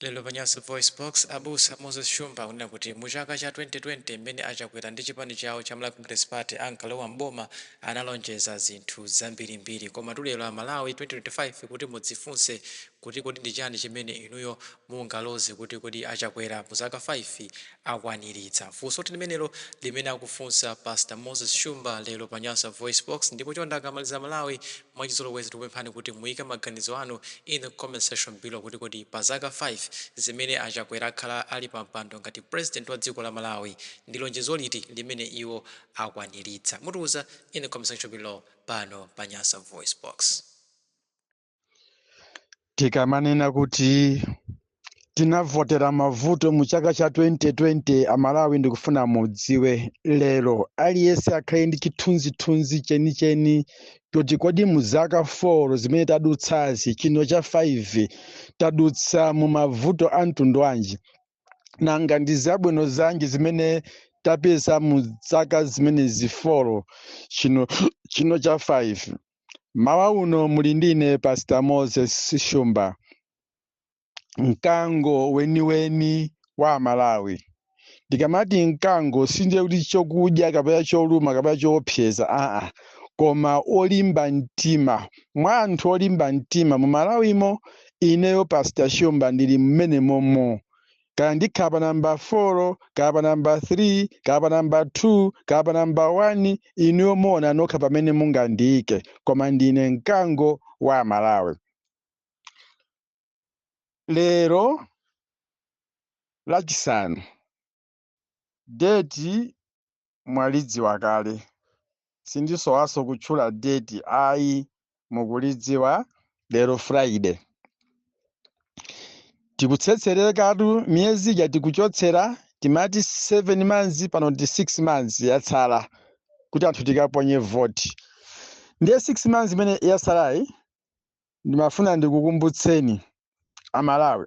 Lero pa Nyasa VoiceBox, abusa Moses Shumba akunena kuti mu chaka cha 2020 mmene a Chakwera ndi chipani chawo cha Malawi Congress Party ankalowa m'boma analonjeza zinthu zambirimbiri. Komatu lero a Malawi 2025 kuti mudzifunse kuti kodi ndi chani chimene inuyo mungaloze kuti kodi a Chakwera mu zaka 5 akwaniritsa? Funsotu limenelo limene akufunsa Pastor Moses Shumba lero pa Nyasa VoiceBox ndipo chonde akamaliza a Malawi Mwachizolowezi tikupemphani kuti muyike maganizo anu in the comment section below kuti kodi pa zaka 5 zimene a Chakwera akhala ali pa mpando ngati President wa dziko la Malawi ndi lonjezo liti limene iwo akwanilitsa? Mutiuza in the comment section below pano pa Nyasa VoiceBox. tikamanena kuti tinavotera mavuto mu chaka cha 2020 amalawi ndikufuna mudziwe lero aliyense akhale ndi chithunzithunzi chenicheni choti kodi mu zaka 4 zimene tadutsazi chino cha 5 tadutsa mu mavuto a mtundu wanji nanga ndi zabwino zanji zimene tapeza mu zaka zimenezi 4 chino cha 5 mawa uno muli ndine pastor moses shumba mkango weniweni wa amalawi ndikamati mkango sindiye kuti chokudya kapena choluma kapena choopseza aa koma olimba mtima mwa anthu olimba mtima mu malawimo ineyo pastor shumba ndili mmenemomo kaya ndikhala pa namba 4 kaya pa namba 3 kaya pa namba 2 kaya pa namba 1 inuyo muona nokha pamene mungandiike koma ndine mkango wa amalawi lero lachisanu Date mwalidziwa kale sindisowaso kutchula date ayi mukulidziwa. Lero Friday tikutsetserekatu miyezi ija tikuchotsera timati 7 months pano ndi 6 months yatsala kuti anthu tikaponye vote ndiye 6 months imene yatsalayi ndimafuna ndikukumbutseni amalawi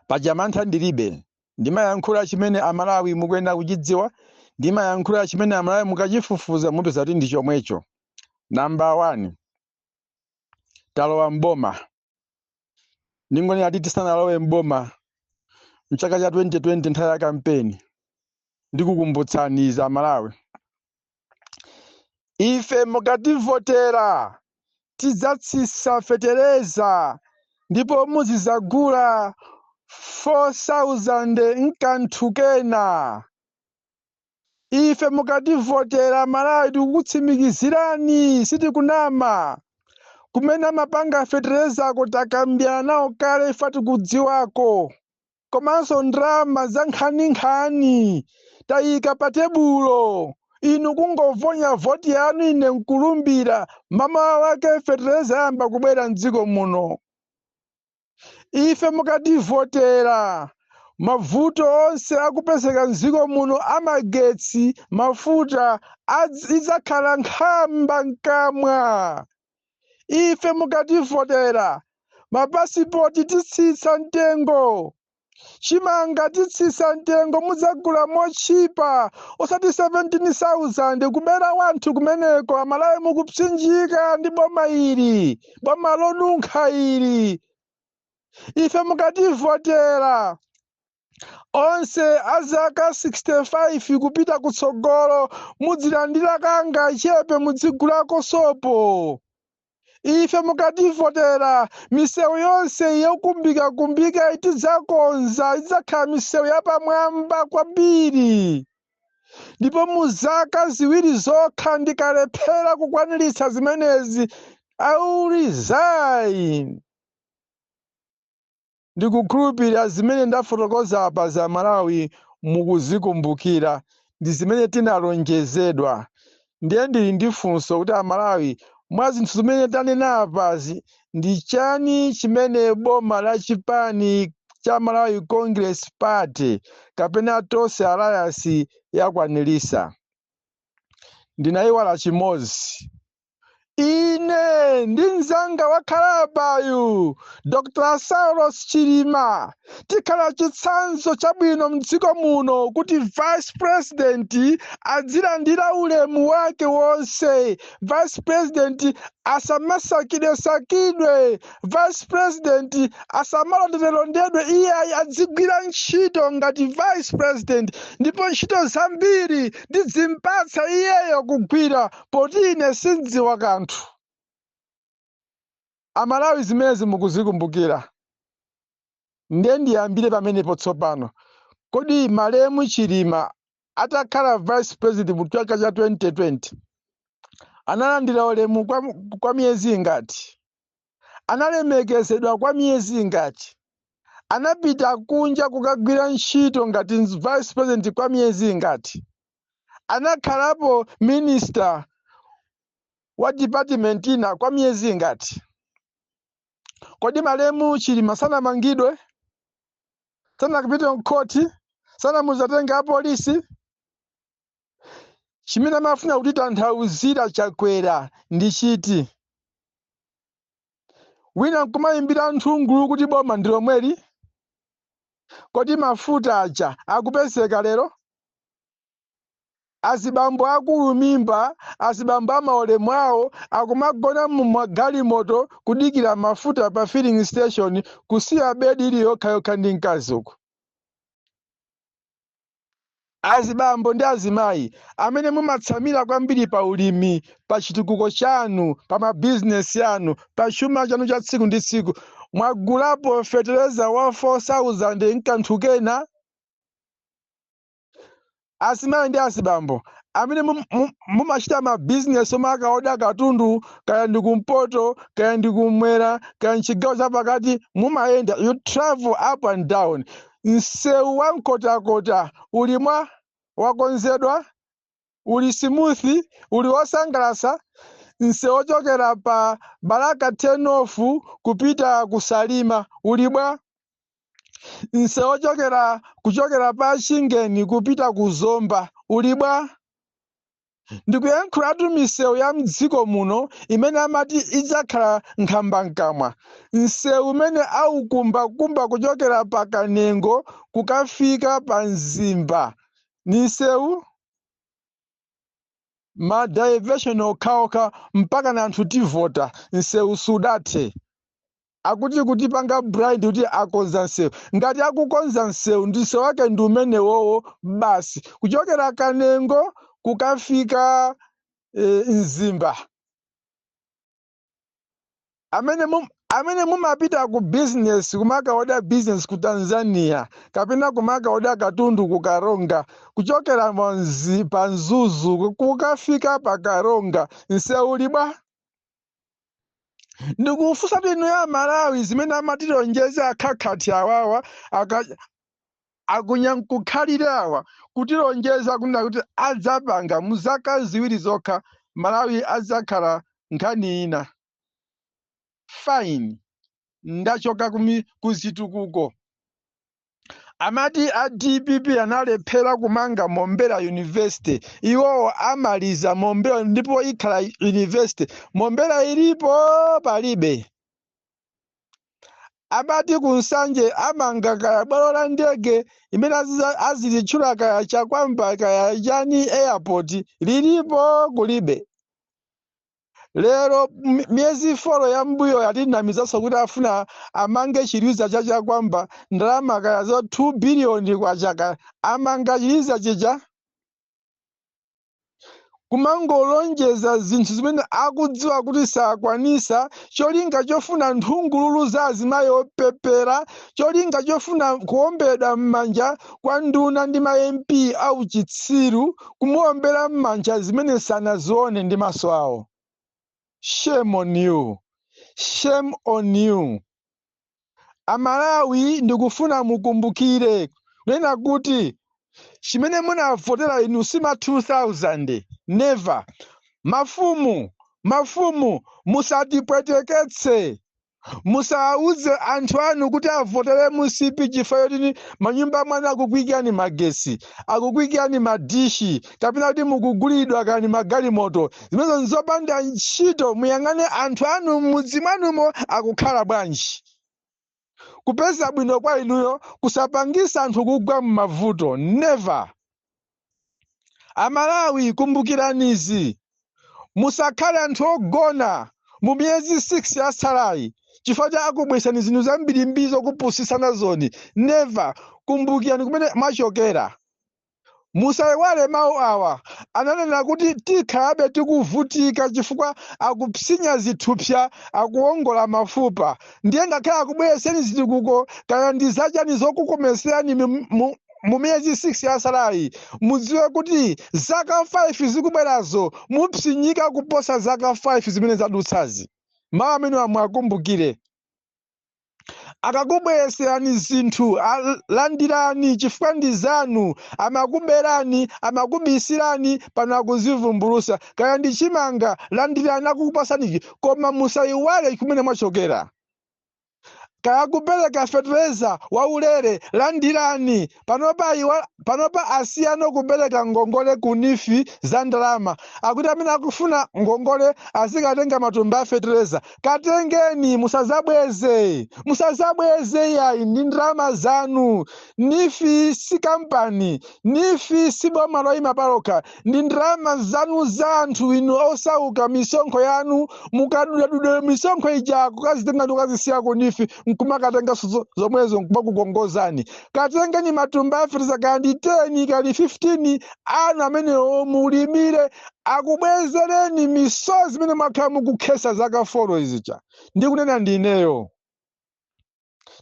paja mantha ndilibe ndimayankhula chimene amalawi mukuyenera kuchidziwa ndimayankhula chimene amalawi mukachifufuza mupeza kuti ndi chomwecho namba 1 talowa mboma ndingonena kuti tisanalowe mboma mchaka cha 2020 nthawi ya kampeni ndikukumbutsani izi amalawi Ife mukativotera tidzatsitsa fetereza ndipo muzizagula 4000 nkanthu kena. Ife mukativotera amalawi tikukutsimikizirani sitikunama. Kumene amapanga feterezako takambirana nawo kale ifa tikudziwako. komanso ndalama za nkhaninkhani tayika pa tebulo inu kungovonya voti yanu ine nkulumbira mamawa wake fetereza yamba kubwera mdziko muno ife mukativotera mavuto onse akupezeka mdziko muno amagetsi mafuta idzakhala nkhambakamwa ife mukativotera mapasipoti titsitsa mtengo chimanga titsitsa mtengo mudzagula motchipa osati 17000 kubera anthu kumeneko amalawi mukupsinjika ndi boma ili boma lonunkha ili ife mukativotera onse a zaka 65 kupita kutsogolo mudzilandira kangachepe mudzigulako sopo ife mukativotera misewu yonse yokumbikakumbika tidzakonza idzakhala misewu yapamwamba kwambiri ndipo mu zaka ziwiri zokha ndikalephera kukwaniritsa zimenezi i will resign Ndikukhulupilira zimene ndafotokoza apazi a Malawi mukuzikumbukira ndi zimene tinalonjezedwa. Ndiye ndili ndi funso kuti a Malawi mwa zinthu zimene tanena apazi ndi chani chimene boma la chipani cha Malawi Congress Party kapena Tonse Alliance yakwanilitsa? Ndinaiwala chimodzi. ine ndi mzanga wakhala apayu dr saulos chilima tikhala chitsanzo chabwino mdziko muno kuti vice president adzilandira ulemu wake wonse vice president asamasakidwesakidwe vice president asamalondedwelondedwe iye ayi adzigwira ntchito ngati vice president ndipo ntchito zambiri ndidzimpatsa iyeyo kugwira poti ine sindziwa kanthu amalawi zimenezi mukuzikumbukira ndiye ndiyambire pamenepo tsopano kodi malemu chilima atakhala vice president mu chaka cha 2020 analandira ulemu kwa miyezi ingati analemekezedwa kwa miyezi ingati anapita kunja kukagwira ntchito ngati vice president kwa miyezi ingati anakhalapo minister wa department ina kwa miyezi ingati kodi malemu chilima sanamangidwe sanapite mkhoti sanamuzatenga apolisi chimene amafuna kutitanthauzira chakwera ndi chiti wina nkumayimbira nthungulu kuti boma ndi lomweli kodi mafuta aja akupezeka lero Azibambo akulu mimba, azibambo amaulemu awo akumagona mu magalimoto kudikira mafuta pa filling station kusiya bed ili yokha yokha ndi mkazi uku. Azibambo ndi azimayi amene mumatsamira kwambiri pa ulimi, pa chitukuko chanu, pa ma business anu, pa chuma chanu cha tsiku ndi tsiku, mwagulapo fetereza wa 4000 nkanthu kena? azimayi ndi azibambo amene mum- mum- mumachita mabizinesi omakaoda katundu kaya ndi kumpoto kaya ndi kumwera kaya mchigawo chapakati mumayenda you travel up and down msewu wa nkhotakota uli bwa wakonzedwa uli smooth uli wosangalatsa msewu ochokera pa balaka turn off kupita ku salima uli bwa msewu ochokera kuchokera pa chingeni kupita ku zomba uli bwa ndikuyankhulatu misewu ya mdziko muno imene amati idzakhala nkhambakamwa msewu umene aukumbakumba kuchokera pa kanengo kukafika pa mzimba ndi msewu ma diversion okhaokha mpaka na anthu tivota msewu sudathe akuti kutipanga blind kuti akonza msewu ngati akukonza msewu msewu wake ndi umenewowo basi kuchokera kanengo kukafika eh, mzimba amene mum, amene mumapita ku business kumakaoda business ku tanzania kapena kumakaoda katundu ku karonga kuchokera manzi pa mzuzu ku- kukafika pa karonga nseu uli bwa ndikufunsa inu a malawi zimene amatilonjeza akhakhakha awawa aka- Akunyankukhalira awa kutilonjeza kunena kuti adzapanga mu zaka ziwiri zokha Malawi adzakhala nkhani ina. Fine. Ndachoka ku mi, ku zitukuko. Amati a dpp analephera kumanga Mombera University. Iwowo amaliza Mombera ndipo ikhala university. Mombera ilipo? Palibe. amati ku nsanje amanga kaya bwalo la ndege imene aziza- azilitchula kaya chakwamba kaya chani airport lilipo kulibe lero m- miyezi folo ya mbuyo yatinamizanso kuti afuna amange chiliza cha chakwamba ndalama kaya za 2 biliyoni kwa chaka amanga chiliza chija kumangolonjeza zinthu zimene akudziwa kuti sakwanisa cholinga chofuna nthungululu za azimayi opepera cholinga chofuna kuombedwa m'manja kwa nduna ndi ma mp auchitsiru kumuombera m'manja zimene sanazione ndi maso awo shame on you shame on you Amalawi ndikufuna mukumbukire kunena kuti chimene munavotera inu si ma 2000 never. Mafumu, mafumu musatipweteketse. Musawauze anthu anu kuti avotere mcp chifukwa choti manyumba mwanu akukuikirani magesi, akukuikirani madishi. kapena kuti mukugulidwa kani magalimoto zimenezo nzopanda ntchito muyang'ane anthu anu m'mudzi mwanumo akukhala bwanji kupeza bwino kwa inuyo kusapangisa anthu kugwa m'mavuto never amalawi kumbukiranizi musakhale anthu ogona mu miyezi 6 yasalayi chifukwa cha akubwesani zinthu zambirimbiri zokupusisa nazoni never kumbukirani kumene mwachokera Musaiwale mawu awa, ananena kuti tikhalabe tikuvutika chifukwa akupsinya zithupsa, akuwongola mafupa, ndiye ngakhale akubwereseni zitukuko kaya ndi zachani zokukomeserani mi- mu- mu miyezi 6 yasalayi, mudziwe kuti zaka 5 zikubwerazo mupsinyika kuposa zaka 5 zimene zadutsazi. Mawu amenewa muwakumbukire. akakubwereserani zinthu al- landirani chifukwa ndi zanu amakuberani amakubisirani pano akuzivumbulusa kaya ndi chimanga landirani akukupasaniki koma musayiwale kumene mwachokera kaya kupereka fetereza waulere landirani Panopa iwo panopa asiyano kupereka ngongole ku neef za ndalama akuti amene akufuna ngongole azikatenga matumba a fetereza katengeni musazabweze musazabweze iyayi ndi ndalama zanu neef si kampani neef si boma loyima palokha ndi ndalama zanu za anthu inu osauka misonkho yanu mukadudadudera misonkho ija kukazitenga ndi kukazisiya ku neef nkumakatenganso zomwezo nkumakukongozani katengeni matumba a fertilizer kaya ndi 10 kaya ndi 15 anu amenewo mulimire akubwezereni misozi imene mwakhala mukukhesa zaka foro zija ndikunena ndineyo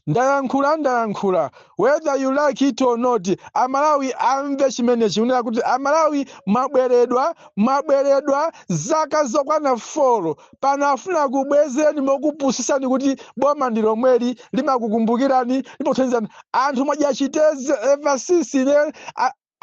ndayankhula ndayankhula whether you like it or not amalawi amve chimenechi kunena kuti amalawi mwaberedwa mwaberedwa zaka zokwana folo pano afuna akubwezereni mokupusisani kuti boma ndi lomweli limakukumbukirani limakuthandizani anthu mwadya chitedze ever since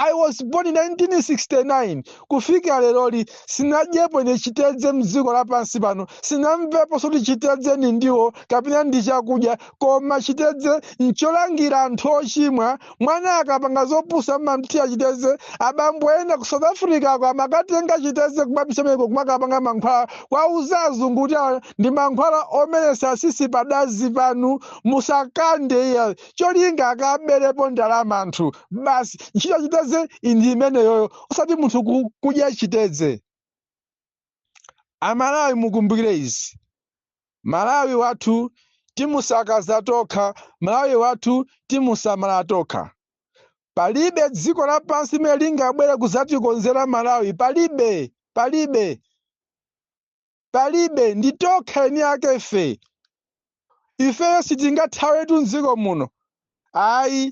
I was born 1969 kufika leroli sinadyepo ine chitedze mdziko lapansi pano sinamveponso kuti chitedze ndi ndiwo kapena ndi chakudya koma chitedze ncholangira anthu ochimwa mwana akapanga zopusa amamthira chitedze abambo ena ku south africa uko amakatenga chitedze kumapisa meko kumakapanga mankhwala kwauza azungu kuti awa ndi mankhwala omeretsa tsitsi padazi panu musakande iya cholinga akaberepo ndalama anthu basi ntchito yachitedze ndi imeneyoyo osati munthu kudya chitedze amalawi mukumbukire izi malawi wathu timusakaza tokha malawi wathu timusamala tokha palibe dziko lapansi limene lingabwere kuzatikonzera malawi palibe palibe Palibe, ndi tokha eni ake ife. Ifeyo sitingathawetu mdziko muno. Ayi,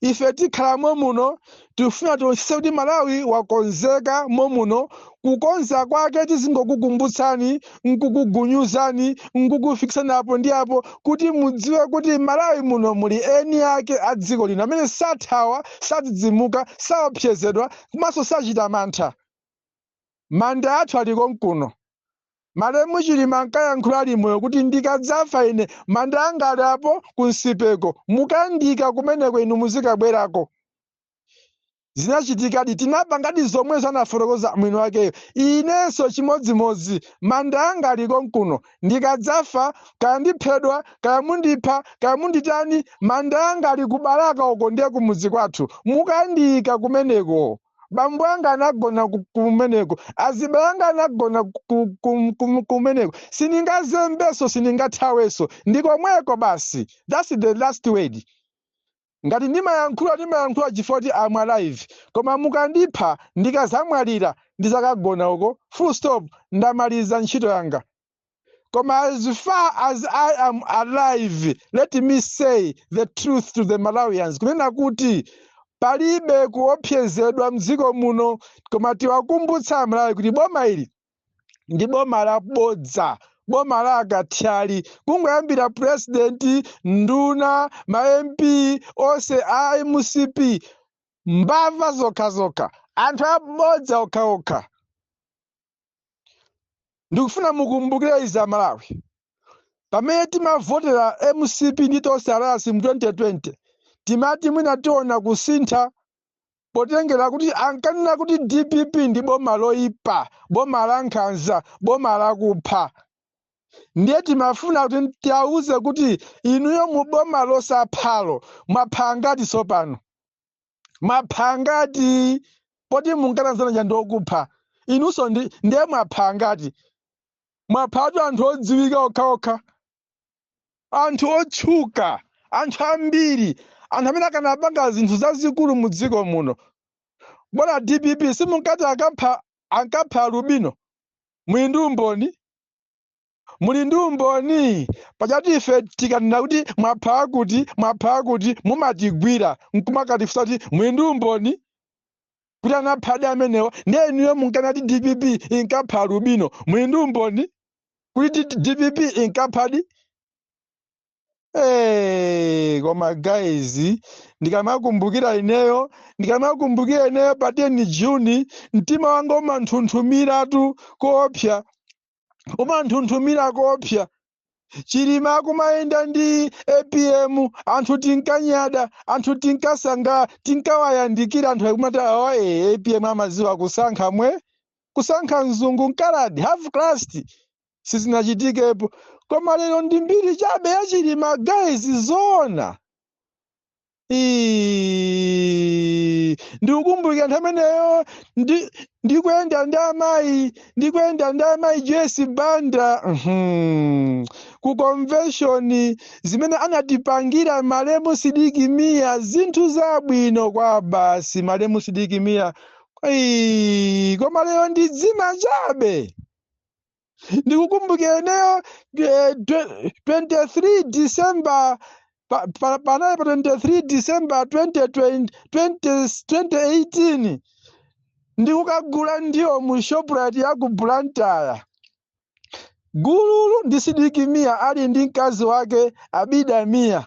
ife tikhala momuno, tikufuna tionetsetse kuti Malawi wakonzeka momuno, kukonza kwake tizingokukumbutsani, nkukugunyuzani, nkukufikitsani apo ndi apo kuti mudziwe kuti Malawi muno muli eni ake a dziko lino amene sathawa, sadzidzimuka, saopsezedwa, komanso sachita mantha. Manda athu ali konkuno. Malemu Chilima ankayankhula ali moyo kuti ndikadzafa ine manda anga ali apo ku Nsipeko, mukandiika kumeneko inu muzikabwerako. Zinachitikadi, tinapangadi zomwezo anafotokoza mwiniwakeyo. Inenso chimodzimodzi, manda anga ali konkuno. Ndikadzafa, kaya ndiphedwa, kaya mundipha, kaya munditani, manda anga ali ku Balaka uko ndiye kumudzi kwathu. Mukandiika kumeneko. bambo anga anagona kumeneko azibale anga anagona kumeneko sindingazembeso sindingathaweso ndi komweko basi thats the last word ngati ndimayankhula ndimayankhula chifukwa choti am alive koma mukandipha ndikazamwalira ndizakagona uko full stop ndamaliza ntchito yanga Koma as far as I am alive, let me say the truth to the Malawians. Kunena kuti palibe kuopsezedwa mdziko muno koma tiwakumbutsa amalawi kuti boma ili ndi boma labodza boma la akathyali kungoyambira purezidenti nduna ma mp onse a mcp mbava zokhazokha anthu abodza okhaokha ndikufuna mukumbukire izi amalawi pamene timavotera mcp ndi Tonse Alliance mu 2020 timati mwina tiona kusintha potengera kuti ankanena kuti dpp ndi boma loipa boma la nkhanza boma lakupha ndiye timafuna kuti tiwauze kuti inuyo mu boma losaphalo mwapha angati tsopano mwapha angati poti munkati anzathuwa ndi okupha inunso ndiye mwapha angati mwaphatu anthu odziwika okhaokha anthu otchuka anthu ambiri anthu amene akanapanga zinthu zazikulu mu dziko muno poti dpp simunkati ankapha alubino muli ndi umboni muli ndi umboni pajatu ife tikanena kuti mwapha akuti mwapha akuti mumatigwira nkumakatifunsa kuti muli ndi umboni kuti anaphadi amenewa ndiye inuyo munkanati dpp inkapha alubino muli ndi umboni kuti dpp inkaphadi Hey, koma guys ndikamakumbukira ineyo ndikamakumbukira ineyo pa 10 June mtima wanga umanjenjemeratu koopsa umanjenjemera koopsa chilima akumayenda ndi apm anthu tinkanyada anthu tinkasanga tinkawayandikira anthu akumati awa ee apm amaziwa kusankha mwe kusankha mzungu mkaladi half caste sizinachitikepo koma lero ndi mbiri chabe ya chilima guys zoona Ii, ndikukumbukira nthawi imeneyo ndi- ndikuyenda ndi amayi ndikuyenda ndi amayi Joyce Banda mhm, ku convention zimene anatipangira malemu sidiki miya zinthu zabwino kwabasi malemu sidiki miya Ii, koma lero ndi dzina chabe ndikukumbukira ineyo eh, dwe- 23 december pa- pa- panali pa 23 december 2020 2018 ndikukagula ndiwo mu shoprite ya ku blantyre gululu ndi Sidik Mia ali ndi mkazi wake Abida Mia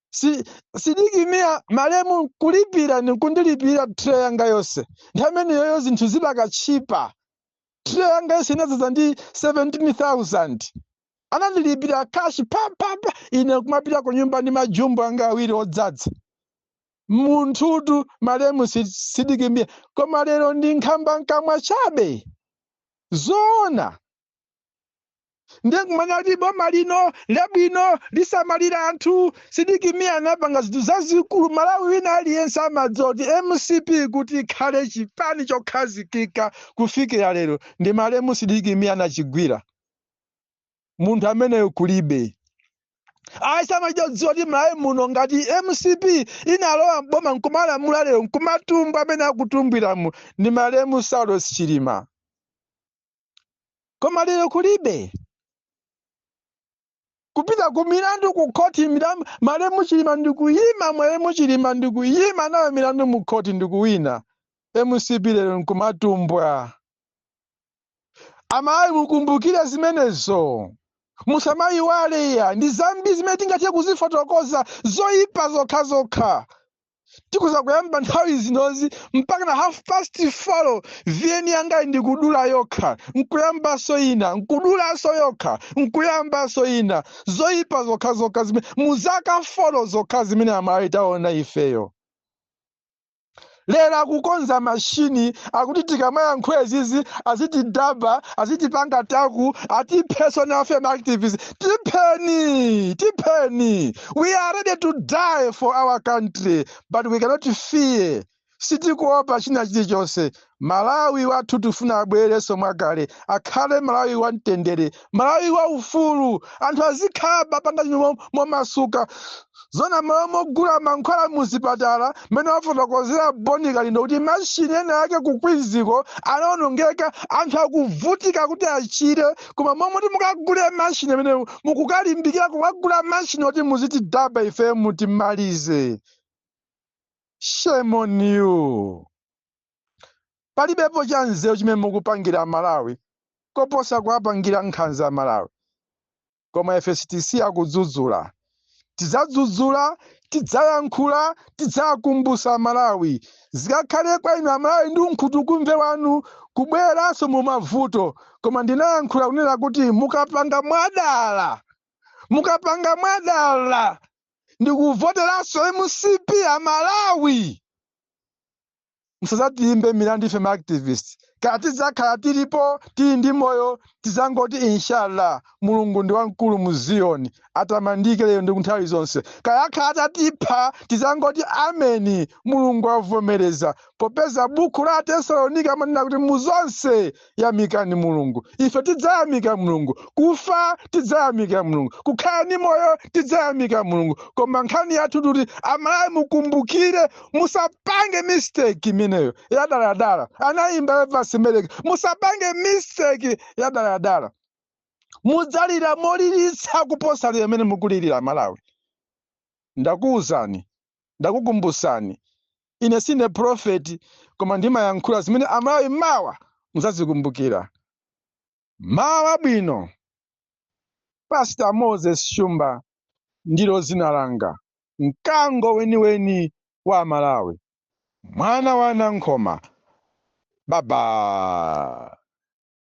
Sidik Mia malemu kulipira ni kundilipira tray yanga yonse nthawi imeneyoyo zinthu zidakali tchipa tray yanga yonse inadzaza ndi 17000 anandilipira cash phaphapha ine kumapita ku nyumba ndi majumbo anga awiri odzadza munthutu malemu Sidik Mia koma lero ndi nkhambakamwa chabe zoona ndiye nkumanena kuti boma lino labwino lisamalira anthu Sidik Mia anapanga zinthu zazikulu malawi wina aliyense amadziwa kuti mcp kuti ikhale chipani chokhazikika kufikira lero ndi malemu Sidik Mia anachigwira munthu ameneyo kulibe amalawi akudziwa kuti malawi muno ngati mcp inalowa mboma nkumalamula lero nkumatumbwa amene akutumbwiramo ndi malemu saulos chilima koma lero kulibe kupita ku milandu ku khoti milandu malemu chilima ndikuyima malemu chilima ndikuyima nayo milandu mu khoti ndikuwina mcp lero nkumatumbwa amalawi mukumbukire zimenezo musamayiwale ayi ndi zambiri zimene tingathe kuzifotokoza zoyipa zokhazokha tikhoza kuyamba nthawi zinozi mpaka na half past four VN yangayi ndikudula yokha nkuyambanso ina nkudulanso yokha nkuyambanso ina zoyipa zokha zokha zimene mu zaka four zokha zimene amalawi taona ifeyo lero akukonza mashini akuti tikamayankhula izizi azitidaba azitipanga track atiphenso nafe maactivists Tipheni, tipheni. We are ready to die for our country, but we cannot fear. Sitikuopa china chilichonse. Malawi wathu tifuna abwererenso mwakale, akhale Malawi wa mtendere, Malawi wa ufulu, anthu azitha kupanga zinthu momasuka. Zoona m'malo mogula mankhwala muzipatala mmene afotokozera Bon Kalindo kuti mashini ena ake ku Queens ko anaonongeka anthu akuvutika kuti achire koma m'malo moti mukagule mashini amenewo mukukalimbikira kukagula mashini oti muzitidaba ifeyo mutimalize. Shame on you. Palibepo cha nzeru chimene mukupangira Malawi koposa kuwapangira nkhanza Amalawi. koma ife sitisiya kudzudzula tidzadzudzula tidzayankhula tidzawakumbutsa amalawi zikakhale kwa inu amalawi ndi unkhutukumve wanu kubweranso mu mavuto koma ndinayankhula kunena kuti mukapanga mwadala mukapanga mwadala ndikuvoteranso mcp amalawi musadzatiimbe milandu ife ma activist kaya tidzakhala tilipo tili ndi moyo tidzangoti inshallah mulungu ndi wamkulu mu ziyoni atamandike lero ndi kunthawi zonse kaya akhala atatipha tidzangoti ameni mulungu avomereza popeza buku la atesalonika amanena kuti mu zonse yamikani mulungu ife tidzayamika mulungu kufa tidzayamika mulungu kukhala ndi moyo tidzayamika mulungu koma nkhani yathu kuti amalawi mukumbukire musapange mistake imeneyo yadaladala anayimba evance meleka musapange mistake yadaladala mudzalira molilitsa kuposa lero limene mukulira amalawi ndakuwuzani ndakukumbutsani ine sine prophet koma ndimayankhula zimene amalawi mawa mudzazikumbukira mawa bwino pastor moses shumba ndilo dzina langa mkango weniweni wa amalawi mwana wa anankhoma baba